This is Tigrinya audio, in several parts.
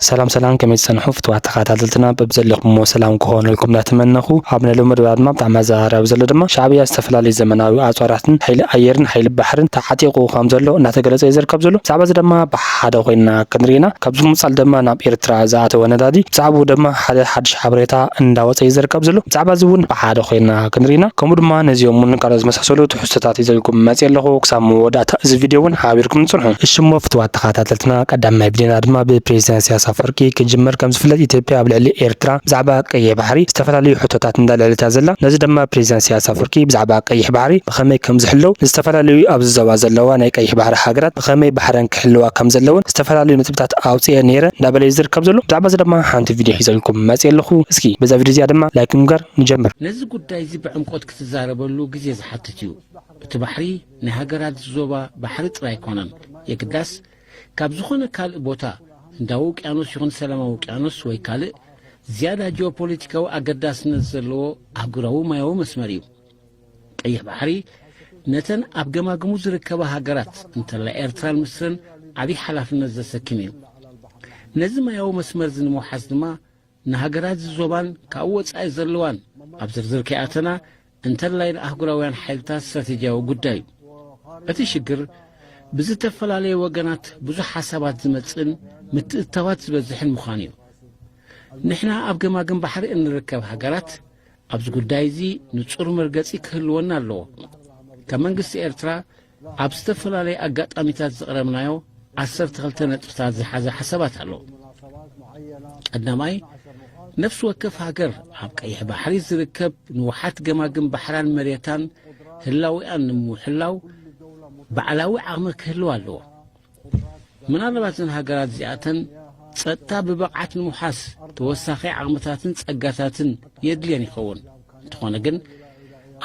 ሰላም ሰላም ከመይ ትጸንሑ ፍትዋት ተኻታተልትና በብዘለኹምዎ ሰላም ክኾነልኩም እንዳተመነኹ ኣብ ናይ ሎሚ መደብና ድማ ብጣዕሚ ኣዘራራቢ ዘሎ ድማ ሻዕብያ ዝተፈላለዩ ዘመናዊ ኣጽዋራትን ሓይሊ ኣየርን ሓይሊ ባሕርን ተዓጢቑ ከምዘሎ እንዳተገለጸ እዩ ዝርከብ ዘሎ ብዛዕባዚ ደማ ብሓሓደ ኮይንና ክንሪኢ ኢና ካብዚ ብምቕጻል ደማ ናብ ኤርትራ ዝኣተወ ነዳዲ ብዛዕብኡ ደማ ሓደ ሓድሽ ሓበሬታ እንዳወጸ እዩ ዝርከብ ዘሎ ብዛዕባዚ ውን ብሓሓደ ኮይንና ክንሪኢ ኢና ከምኡ ድማ ነዚኦም ውን ካልኦት ዝመሳሰሉ ትሕዝቶታት ሒዘልኩም መጽየ ኣለኹ ክሳብ መወዳእታ እዚ ቪድዮ ውን ሓቢርኩምኒ ጽንሑ። እሽ'ሞ ፍትዋት ተኻታተልትና ቀዳማይ ቪድዮና ድማ ብፕሬዚዳንት ኢሳያስ ኣፍወርቂ ክጅምር ከም ዝፍለጥ ኢትዮጵያ ኣብ ልዕሊ ኤርትራ ብዛዕባ ቀይሕ ባሕሪ ዝተፈላለዩ ሕቶታት እንዳልዐለት እያ ዘላ ነዚ ደማ ፕሬዚዳንት ኢሳያስ ኣፍወርቂ ብዛዕባ ቀይሕ ባሕሪ ብኸመይ ከም ዝሕለው ንዝተፈላለዩ ኣብዚ ዞባ ዘለዋ ናይ ቀይሕ ባሕሪ ሃገራት ብኸመይ ባሕረን ክሕልዋ ከም ዘለወን ዝተፈላለዩ ነጥብታት ኣውጺኤ ነይረ እንዳበለ እዩ ዝርከብ ዘሎ ብዛዕባ እዚ ደማ ሓንቲ ቪድዮ ሒዘልኩም መጽየ ኣለኹ እስኪ በዛ ቪድዮ እዚኣ ደማ ላይክ ብምግባር ንጀምር። ነዚ ጉዳይ እዚ ብዕምቆት ክትዛረበሉ ግዜ ዝሓትት እዩ። እቲ ባሕሪ ናይ ሃገራት ዞባ ባሕሪ ጥራይ ኣይኮነን፣ የግዳስ ካብ ዝኾነ ካልእ ቦታ ህንዳዊ ውቅያኖስ ይኹን ሰላማዊ ውቅያኖስ ወይ ካልእ ዝያዳ ጂኦፖለቲካዊ ኣገዳስነት ዘለዎ ኣህጉራዊ ማያዊ መስመር እዩ። ቀይሕ ባሕሪ ነተን ኣብ ገማግሙ ዝርከባ ሃገራት እንተላይ ኤርትራን ምስርን ዓብዪ ሓላፍነት ዘሰክም እዩ። ነዚ ማያዊ መስመርዚ ንምውሓስ ድማ ንሃገራት እዚ ዞባን ካብኡ ወጻኢ ዘለዋን ኣብ ዝርዝር ከይኣተና እንተላይ ንኣህጉራውያን ሓይልታት ስትራቴጂያዊ ጉዳይ እዩ። እቲ ሽግር ብዝተፈላለየ ወገናት ብዙሕ ሓሳባት ዝመጽእን ምትእትታዋት ዝበዝሕን ምዃኑ እዩ። ንሕና ኣብ ገማግም ባሕሪ እንርከብ ሃገራት ኣብዚ ጉዳይ እዚ ንጹር መርገጺ ክህልወና ኣለዎ። ከም መንግስቲ ኤርትራ ኣብ ዝተፈላለየ ኣጋጣሚታት ዘቕረብናዮ ዓሰርተ ክልተ ነጥብታት ዝሓዘ ሓሳባት ኣሎ። ቀዳማይ፣ ነፍሲ ወከፍ ሃገር ኣብ ቀይሕ ባሕሪ ዝርከብ ንውሓት ገማግም ባሕራን መሬታን ህላዊኣን ንምውሕላው ባዕላዊ ዓቕሚ ክህልዋ ኣለዎ። ምናልባት እዘን ሃገራት እዚኣተን ጸጥታ ብብቕዓት ንምውሓስ ተወሳኺ ዓቕምታትን ጸጋታትን የድልየን ይኸውን። እንተኾነ ግን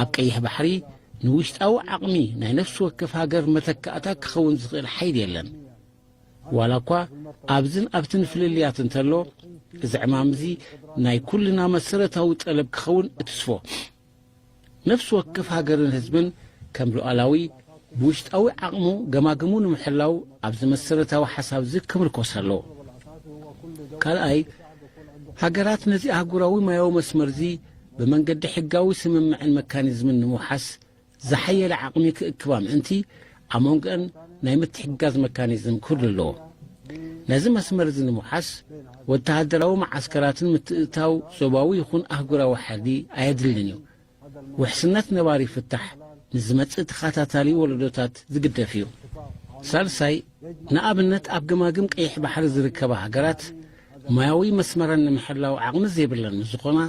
ኣብ ቀይሕ ባሕሪ ንውሽጣዊ ዓቕሚ ናይ ነፍሲ ወከፍ ሃገር መተካእታ ክኸውን ዝኽእል ሓይሊ የለን ዋላ እኳ ኣብዝን ኣብትን ፍልልያት እንተሎ እዚ ዕማም እዚ ናይ ኩልና መሰረታዊ ጠለብ ክኸውን እትስፎ ነፍሲ ወከፍ ሃገርን ህዝብን ከም ሉኣላዊ፣ ብውሽጣዊ ዓቕሙ ገማግሙ ንምሕላው ኣብዚ መሰረታዊ ሓሳብ'ዚ ክምርኮስ ኣለዎ። ካልኣይ፣ ሃገራት ነዚ ኣህጉራዊ ማያዊ መስመር'ዚ ብመንገዲ ሕጋዊ ስምምዕን መካኒዝምን ንምውሓስ ዝሓየለ ዓቕሚ ክእክባ ምእንቲ፣ ኣብ መንጎኣን ናይ ምትሕግጋዝ መካኒዝም ክህሉ ኣለዎ። ነዚ መስመር እዚ ንምውሓስ ወተሃደራዊ መዓስከራትን ምትእትታው ዞባዊ ይኹን ኣህጉራዊ ሓይሊ ኣየድልን እዩ። ውሕስነት ነባሪ ፍታሕ ንዝመጽእ ተኸታታሊ ወለዶታት ዝግደፍ እዩ። ሳልሳይ፣ ንኣብነት ኣብ ገማግም ቀይሕ ባሕሪ ዝርከባ ሃገራት ማያዊ መስመረን ንምሕላው ዓቕሚ ዘይብለን ምስ ዝኾና፣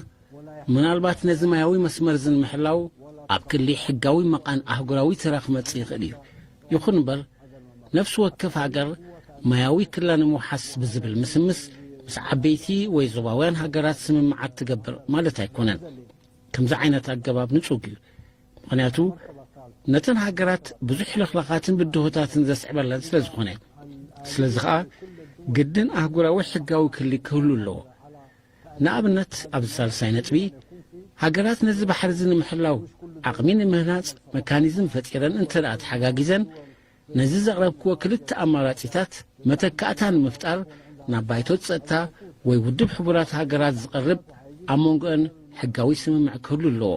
ምናልባት ነዚ ማያዊ መስመር'ዚ ንምሕላው ኣብ ክሊ ሕጋዊ መቓን ኣህጉራዊ ተራ ክመጽእ ይኽእል እዩ። ይኹን'ምበር፣ ነፍሲ ወከፍ ሃገር ማያዊ ክላ ንምውሓስ ብዝብል ምስምስ ምስ ዓበይቲ ወይ ዞባውያን ሃገራት ስምምዓት ትገብር ማለት ኣይኮነን። ከምዚ ዓይነት ኣገባብ ንጹግ እዩ። ምኽንያቱ ነተን ሃገራት ብዙሕ ልኽላኻትን ብድሆታትን ዘስዕበለን ስለ ዝኾነ። ስለዚ ኸኣ ግድን ኣህጉራዊ ሕጋዊ ክሊ ክህሉ ኣለዎ። ንኣብነት ኣብዚ ሳልሳይ ነጥቢ፣ ሃገራት ነዚ ባሕሪዚ ንምሕላው ዓቕሚ ንምህናጽ መካኒዝም ፈጢረን እንተድኣ ተሓጋጊዘን፣ ነዚ ዘቕረብክዎ ክልተ ኣማራጺታት መተካእታ ንምፍጣር ናብ ባይቶ ጸጥታ ወይ ውድብ ሕቡራት ሃገራት ዝቐርብ ኣብ መንጎኤን ሕጋዊ ስምምዕ ክህሉ ኣለዎ።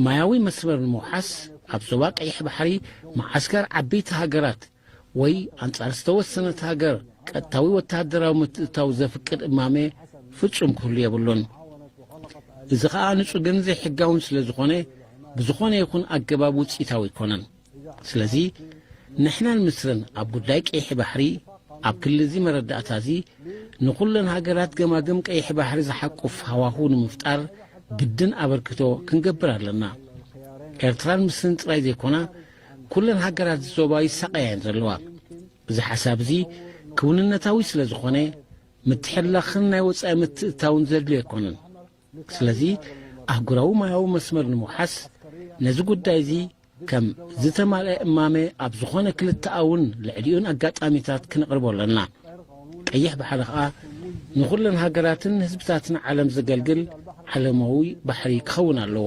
ማያዊ መስመር ንምውሓስ ኣብ ዞባ ቀይሕ ባሕሪ መዓስከር ዓቢይቲ ሃገራት ወይ ኣንጻር ዝተወሰነት ሃገር ቀጥታዊ ወተሃደራዊ ምትእትታው ዘፍቅድ እማመ ፍጹም ክህሉ የብሉን። እዚ ከኣ ንጹግን ዘይሕጋውን ስለ ዝኾነ ብዝኾነ ይኹን ኣገባብ ውጽኢታዊ ኣይኮነን። ስለዚ ንሕናን ምስርን ኣብ ጉዳይ ቀይሒ ባሕሪ ኣብ ክሊ እዚ መረዳእታ እዚ ንኹለን ሃገራት ገማግም ቀይሒ ባሕሪ ዝሓቁፍ ሃዋሁ ንምፍጣር ግድን ኣበርክቶ ክንገብር ኣለና። ኤርትራን ምስርን ጥራይ ዘይኮና ኩለን ሃገራት እዚ ዞባ ይሳቐያ እየን ዘለዋ። እዚ ሓሳብ እዚ ክውንነታዊ ስለ ዝኾነ ምትሕልላኽን ናይ ወጻኢ ምትእትታውን ዘድልዮ ኣይኮነን። ስለዚ ኣህጉራዊ ማያዊ መስመር ንምውሓስ ነዚ ጉዳይ እዚ ከም ዝተማልአ እማመ ኣብ ዝኾነ ክልተኣውን ልዕሊኡን ኣጋጣሚታት ክነቕርቦ ኣለና። ቀይሕ ባሕሪ ከኣ ንኹለን ሃገራትን ህዝብታትን ዓለም ዘገልግል ዓለማዊ ባሕሪ ክኸውን ኣለዎ።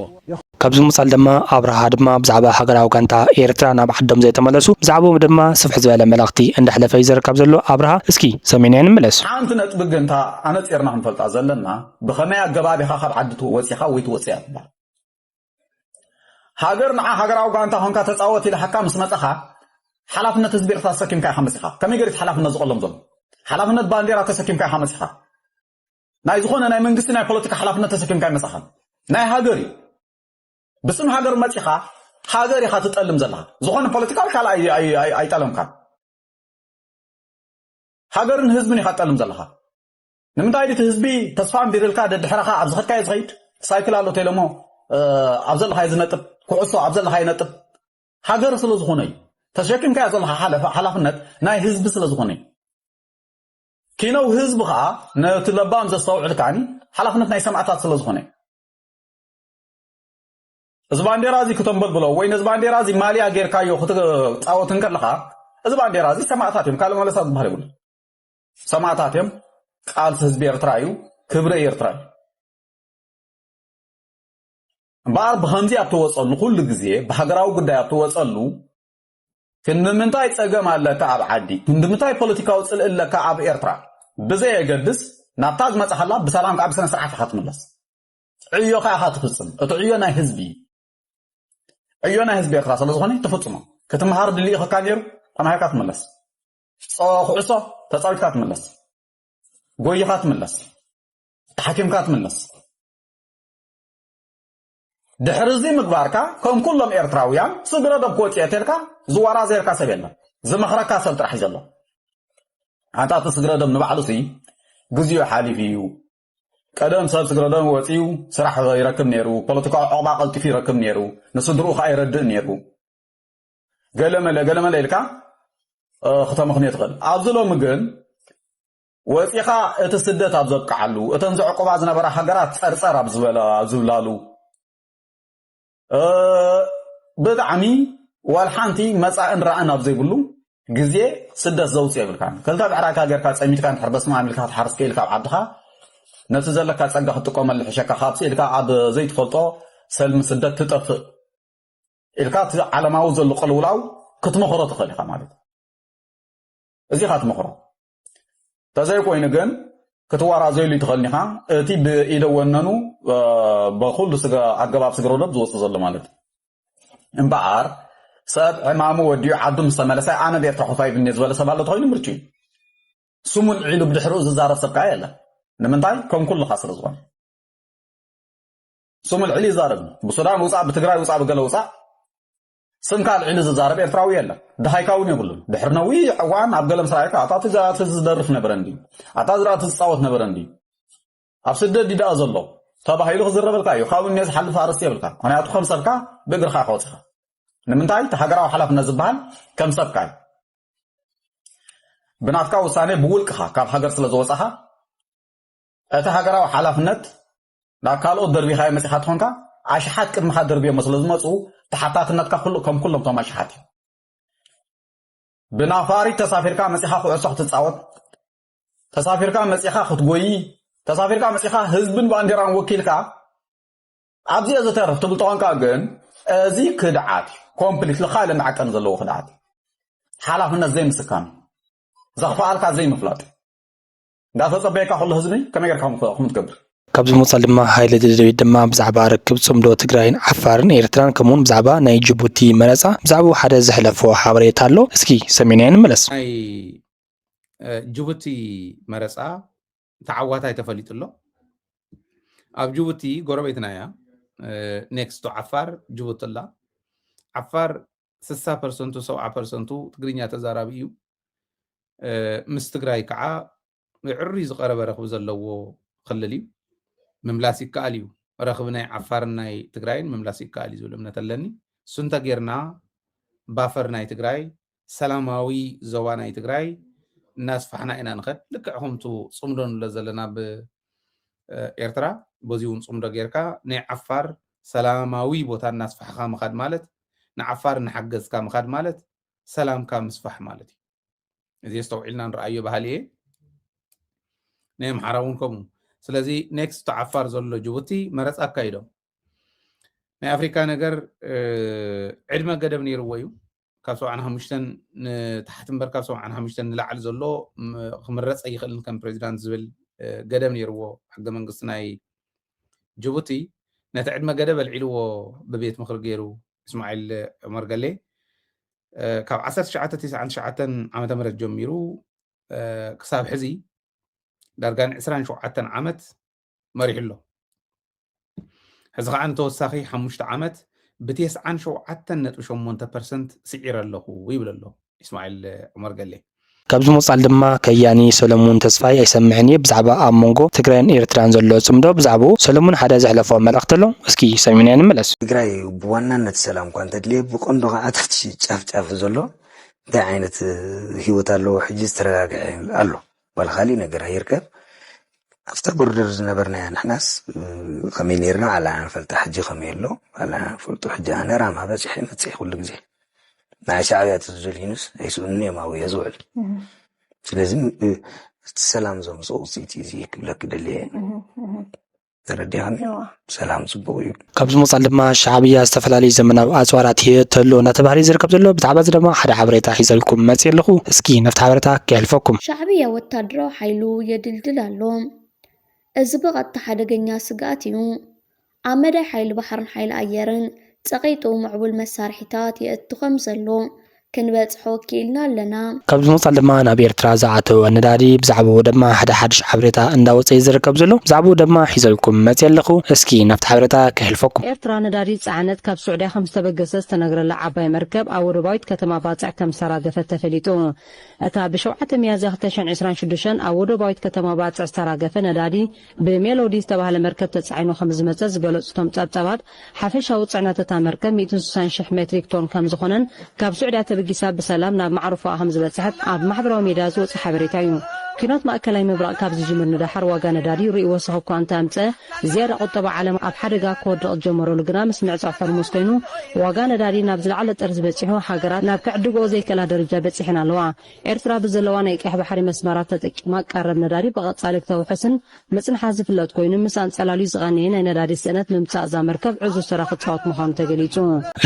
ካብዚ ብምቕጻል ድማ ኣብርሃ ድማ ብዛዕባ ሃገራዊ ጋንታ ኤርትራ ናብ ዓዶም ዘይተመለሱ ብዛዕብኡ ድማ ስፍሕ ዝበለ መልእኽቲ እንዳሕለፈ እዩ ዝዝረብ ካብዘሎ ኣብርሃ እስኪ ሰሚዕናዮ ንምለስ። ሓንቲ ነጥቢ ግን እታ ኣነጺርና ክንፈልጣ ዘለና ብኸመይ ኣገባብ ኢኻ ካብ ዓዲ ወጺኻ ወይ ትወጽእ እያ ትብሃል። ሃገር ንዓ ሃገራዊ ጋንታ ኮንካ ተጻወት ኢልሓካ ምስ መጻኻ ሓላፍነት ህዝቢ ኤርትራ ተሰኪምካ ኢኻ መጺኻ ከመይ ገሪት ሓላፍነት ዝቐሎም ዘሎ ሓላፍነት ባንዴራ ተሰኪምካ ኢኻ መጺኻ ናይ ዝኾነ ናይ መንግስቲ ናይ ፖለቲካ ሓላፍነት ተሰኪምካ ይመጻኻን ናይ ሃገር እዩ ብስም ሃገር መጺኻ ሃገር ኢኻ ትጠልም ዘለኻ ዝኾነ ፖለቲካዊ ካል ኣይጠለምካን ሃገርን ህዝብን ኢኻ ትጠልም ዘለኻ ንምንታይ ድዩ እቲ ህዝቢ ተስፋ ኣንቢርልካ ደድሕረኻ ኣብ ዝኸድካዮ ዝኸይድ ሳይክል ኣሎ ቴለሞ ኣብ ዘለኻዮ ዝነጥብ ኩዕሶ ኣብ ዘለካ ይነጥብ ሃገር ስለ ዝኾነ እዩ ተሸኪምካዮ ዘለካ ሓላፍነት ናይ ህዝቢ ስለ ዝኾነ እዩ ኪነው ህዝቢ ከዓ ነቲ ለባም ዘስተውዕል ከዓኒ ሓላፍነት ናይ ሰማዕታት ስለ ዝኾነ እዩ እዚ ባንዴራ እዚ ክተንበልብሎ ወይ ነዚ ባንዴራ እዚ ማልያ ጌርካዮ ክትፃወት እንከለካ እዚ ባንዴራ እዚ ሰማዕታት እዮም ካልእ መለሳ ዝበሃል የብሉ ሰማእታት እዮም ቃልሲ ህዝቢ ኤርትራ እዩ ክብሪ ኤርትራ እዩ እምበኣር ብኸምዚ ኣብ ትወፀሉ ኩሉ ግዜ ብሃገራዊ ጉዳይ ኣብ ትወፀሉ ክንድምንታይ ጸገም ኣለካ ኣብ ዓዲ ክንድምንታይ ፖለቲካዊ ጽልኢ ኣለካ ኣብ ኤርትራ ብዘየገድስ ናብታ ዝመጽሓላ ብሰላም ከዓ ብስነ ስርዓት ኢኻ ትምለስ ዕዮ ከዓ ኢኻ ትፍጽም እቲ ዕዮ ናይ ህዝቢ ዕዮ ናይ ህዝቢ ኤርትራ ስለ ዝኾነ ትፍጽሞ ክትምሃር ድልኢኽካ ነይሩ ተማሂርካ ትምለስ ኩዕሶ ተጻዊትካ ትምለስ፣ ጎይኻ ትምለስ፣ ተሓኪምካ ትምለስ። ድሕሪ እዚ ምግባርካ ከም ኩሎም ኤርትራውያን ስግረ ዶብ ክወጽኦ ተልካ ዝዋራዘየልካ ሰብ የለን ዝመኽረካ ሰብ ጥራሕ እዩ ዘሎ ኣንታ እቲ ስግረ ዶብ ንባዕሉ ሲ ግዜኡ ሓሊፉ እዩ ቀደም ሰብ ስግረ ዶብ ወፂኡ ስራሕ ይረክብ ነይሩ ፖለቲካዊ ዕቑባ ቀልጢፉ ይረክብ ነይሩ ንስድርኡ ከዓ ይረድእ ነይሩ ገለመለ ገለመለ ኢልካ ክተምኽንዮ ትኽእል ኣብዚ ሎሚ ግን ወፂኻ እቲ ስደት ኣብ ዘብቅዓሉ እተን ዘዕቁባ ዝነበራ ሃገራት ፀርፀር ኣብ ዝበላ ዝብላሉ ብጣዕሚ ዋል ሓንቲ መፃእን ራእን ኣብ ዘይብሉ ግዜ ስደት ዘውፅእ የብልካን ክልተ ብዕራይካ ጌርካ ፀሚትካ ንድሕር በስማ ኢልካ ክትሓርስ ክእል ካብ ዓድኻ ነቲ ዘለካ ፀጋ ክትጥቀመሉ ሕሸካ ካብ ስኢልካ ኣብ ዘይትፈልጦ ሰልሚ ስደት ትጠፍእ ኢልካ እቲ ዓለማዊ ዘሎ ቅልውላው ክትመኽሮ ትኽእል ኢኻ ማለት እዩ። እዚ ኢኻ ትመኽሮ። ተዘይኮይኑ ግን ክትዋራዘይሉ ይትኽእል ኢኻ እቲ ብኢደ ወነኑ በኩሉ ኣገባብ ስግረ ወደብ ዝወፅእ ዘሎ ማለት እዩ እምበኣር ሰብ ዕማሙ ወዲኡ ዓዱ ምስ ተመለሰ ኣነ ብኤርትራ ኮፋይብኒ ዝበለ ሰብ ኣሎ ተኮይኑ ምርጭ እዩ ስሙን ዒሉ ብድሕሪኡ ዝዛረብ ሰብ ከዓ የለን ንምንታይ ከም ኩልኻ ስለ ዝኾነ ስሙ ኣልዒሉ ይዛረብ እዩ። ብሱዳን ውጻእ ብትግራይ ውጻእ ብገለ ውጻእ ስምካ ኣልዒሉ ዝዛረብ ኤርትራዊ የለን። ድሃይካ እውን የብሉን። ድሕሪ ነዊሕ እዋን ኣብ ገለ ምስ ረኣየካ ኣታ እቲ ዝኣቲ ዝደርፍ ነበረ እንድዩ፣ ኣታ ዝራእቲ ዝጻወት ነበረ እንድዩ፣ ኣብ ስደት ድዩ ደኣ ዘሎ ተባሂሉ ክዝረበልካ እዩ። ካብኡ እኔ ዝሓልፍ ኣርእስቲ የብልካ። ምክንያቱ ከም ሰብካ ብእግርካ ኢኻ ወጺኻ። ንምንታይ እቲ ሃገራዊ ሓላፍነት ዝበሃል ከም ሰብካ እዩ። ብናትካ ውሳኔ ብውልቅኻ ካብ ሃገር ስለ ዝወጻኻ እቲ ሃገራዊ ሓላፍነት ናብ ካልኦት ደርቢኻዮ መጺኻ ተኾንካ ኣሽሓት ቅድምኻ ደርብዮሞ ስለ ዝመጹ ተሓታትነትካ ኩሉ ከም ኩሎም ቶም ኣሽሓት እዩ ብናፋሪት ተሳፊርካ መጺኻ ኩዕሶ ክትጻወት ተሳፊርካ መጺኻ ክትጎይ ተሳፊርካ መጺኻ ህዝብን ባንዴራን ወኪልካ ኣብዚኦ ዝተርፍ ትብል ተኾንካ ግን እዚ ክድዓት እዩ ኮምፕሊትሊ ካልእ መዐቀኒ ዘለዎ ክድዓት እዩ ሓላፍነት ዘይምስካም እዩ ዘኽፍኣልካ ዘይምፍላጥ እዩ እንዳተጸበየካ ከሎ ህዝቢ ከመይ ጌርካ ከምኡ ትገብር? ካብዚ ብምቕጻል ድማ ሃይለ ደደቢት ድማ ብዛዕባ ርክብ ጽምዶ ትግራይን ዓፋርን ኤርትራን ከምኡውን ብዛዕባ ናይ ጅቡቲ መረጻ ብዛዕባኡ ሓደ ዘሕለፎ ሓበሬታ ኣሎ እስኪ ሰሚዕናዮ ንመለስ። ናይ ጅቡቲ መረጻ ተዓዋታይ ተፈሊጡ ኣሎ። ኣብ ጅቡቲ ጎረቤትና እያ ኔክስቶ ዓፋር ጅቡቲ ኣላ። ዓፋር ስሳ ፐርሰንቱ ሰብዓ ፐርሰንቱ ትግርኛ ተዛራቢ እዩ። ምስ ትግራይ ከዓ ብዕርይ ዝቐረበ ረኽቢ ዘለዎ ክልል እዩ። ምምላስ ይከኣል እዩ። ረኽቢ ናይ ዓፋርን ናይ ትግራይን ምምላስ ይከኣል እዩ ዝብል እምነት ኣለኒ። እሱ እንተጌርና ባፈር ናይ ትግራይ ሰላማዊ ዞባ ናይ ትግራይ እናስፋሕና ኢና ንኸድ ልክዕ ከምቱ ፅምዶ ንብሎ ዘለና ብኤርትራ በዚ እውን ፅምዶ ጌርካ ናይ ዓፋር ሰላማዊ ቦታ እናስፋሕኻ ምኻድ ማለት ንዓፋር እናሓገዝካ ምኻድ ማለት ሰላምካ ምስፋሕ ማለት እዩ። እዚ ኣስተውዒልና ንርኣዮ በሃሊ እየ። ናይ ኣምሓራ እውን ከምኡ። ስለዚ ኔክስት ቱ ዓፋር ዘሎ ጅቡቲ መረፃ ኣካይዶም ናይ ኣፍሪካ ነገር ዕድመ ገደብ ነይርዎ እዩ። ካብ ሰብዓን ሓሙሽተን ንታሕቲ እምበር ካብ ሰብዓን ሓሙሽተን ንላዕሊ ዘሎ ክምረፅ ኣይኽእልን ከም ፕሬዚዳንት ዝብል ገደብ ነይርዎ ሕገ መንግስቲ ናይ ጅቡቲ ነቲ ዕድመ ገደብ ኣልዒልዎ ብቤት ምኽሪ ገይሩ እስማዒል ዑመር ገሌ ካብ ዓሰርተ ትሽዓተ ቲስዓን ትሽዓተን ዓመተ ምህረት ጀሚሩ ክሳብ ሕዚ ዳርጋ ንዕስራን ሸውዓተን ዓመት መሪሑ ኣሎ ሕዚ ከዓ ንተወሳኺ ሓሙሽተ ዓመት ብቴስዓን ሸውዓተን ነጥቢ ሸሞንተ ፐርሰንት ስዒረ ኣለኹ ይብል ኣሎ ኢስማዒል ዑመር ገሌ። ካብዚ ምቕጻል ድማ ከያኒ ሰለሙን ተስፋይ ኣይሰምዕን እየ ብዛዕባ ኣብ ሞንጎ ትግራይን ኤርትራን ዘሎ ጽምዶ ብዛዕብኡ ሰለሙን ሓደ ዘሕለፎ መልእኽቲ ኣሎ እስኪ ሰሚዕናዮ ንመለስ። ትግራይ ብዋናነት ሰላም እኳ እንተድልየ ብቀንዱ ካዓ ኣብቲ ጫፍ ጫፍ ዘሎ እንታይ ዓይነት ሂወት ኣለዎ ሕጂ ዝተረጋገዐ ኣሎ። ዋላ ካሊእ ነገር ኣይርከብ ኣብታ ቦርደር ዝነበርናያ ንሕናስ ከመይ ነርና ኣላና ንፈልጣ ሕጂ ከመይ ኣሎ ኣላና ንፈልጡ ሕጂ ኣነ ራማ በፂሐ መፅሒ ኩሉ ግዜ ንዓይ ሻዕብያ ተዝደልዩንስ ኣይስእኑን እዮም ኣብየ ዝውዕል ስለዚ እቲ ሰላም ዘምፅኦ ውፅኢት እዩ ክብለኪ ደልየ ተረዲኣኒ ሰላም ፅቡቅ እዩ ካብዚ ምቕፃል ድማ ሻዕብያ ዝተፈላለዩ ዘመናዊ ኣፅዋራት ሂየ ተሎ እናተባህለ ዝርከብ ዘሎ ብዛዕባ እዚ ድማ ሓደ ሓበሬታ ሒዘልኩም መፅእ ኣለኹ እስኪ ነፍቲ ሓበሬታ ከየሕልፈኩም ሻዕብያ ወታደራዊ ሓይሉ የድልድል ኣሎ እዚ ብቐጥታ ሓደገኛ ስግኣት እዩ ኣብ መዳይ ሓይሊ ባሕርን ሓይሊ ኣየርን ፀቒጡ ምዕቡል መሳርሒታት የእቱ ከም ዘሎ ክንበጽሖ ክኢልና ኣለና። ካብዚ ብምቕጻል ድማ ናብ ኤርትራ ዝኣተወ ነዳዲ ብዛዕብኡ ደማ ሓደ ሓድሽ ሓበሬታ እንዳወጸ እዩ ዝርከብ ዘሎ። ብዛዕብኡ ደማ ሒዘልኩም መጽየ ኣለኹ። እስኪ ናብቲ ሓበሬታ ከሕልፈኩም። ኤርትራ ነዳዲ ዝጸዓነት ካብ ሱዕድያ ከም ዝተበገሰ ዝተነግረላ ዓባይ መርከብ ኣብ ወደባዊት ከተማ ባጽዕ ከም ዝተራገፈት ተፈሊጡ። እታ ብ ሸውዓተ ሚያዝያ ክልተ ሽሕን ዕስራን ሽዱሽተን ኣብ ወደባዊት ከተማ ባጽዕ ዝተራገፈ ነዳዲ፣ ብሜሎዲ ዝተባህለ መርከብ ተጻዒኑ ከምዝመጸ ዝገለጹ እቶም ጸብጻባት፣ ሓፈሻዊ ጽዕነት እታ መርከብ ሚእትን ስሳን ሽሕ ሜትሪክ ቶን ከምዝኾነን ካብ ሱዕድያ ተበጊሳ ብሰላም ናብ ማዕርፎኣ ከምዝበጽሐት ኣብ ማሕበራዊ ሚድያ ዝወጸ ሓበሬታ እዩ። ኲናት ማእከላይ ምብራቕ ካብ ዝጅምር ንደሓር ዋጋ ነዳዲ ርኡይ ወሰኽ እኳ እንተኣምጸ፣ ዝያዳ ቁጠባ ዓለም ኣብ ሓደጋ ክወድቕ ዝጀመረሉ ግና ምስ ምዕጻው ሆርሙዝ ኮይኑ፣ ዋጋ ነዳዲ ናብ ዝለዓለ ጥርዚ በጺሑ፣ ሃገራት ናብ ክዕድግኦ ዘይክእላ ደረጃ በጺሐን ኣለዋ። ኤርትራ ብዘለዋ ናይ ቀይሕ ባሕሪ መስመራት ተጠቂማ ቀረብ ነዳዲ ብቐጻሊ ክተውሕስን ምጽንሓ ዝፍለጥ ኮይኑ፣ ምስ ኣንጸላልዩ ዝቐነየ ናይ ነዳዲ ስእነት ምምጻእ እዛ መርከብ ዕዙዝ ተራ ክጻወት ምዃኑ ተገሊጹ።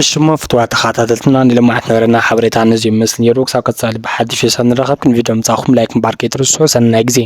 እሽ'ሞ ፍቱዋት ተኻታተልትና ንሎማዓንቲ ዝነበረና ሓበሬታ ነዚ'ዩ ዝመስል ኔሩ ክሳብ ቀጻሊ ብሓድሽ ርእሰታት ንራኸብ ክንዲ ቪድዮ ምጽኣኹም ላይክ ምባር ከይትርስዑ ሰናይ ግዜ።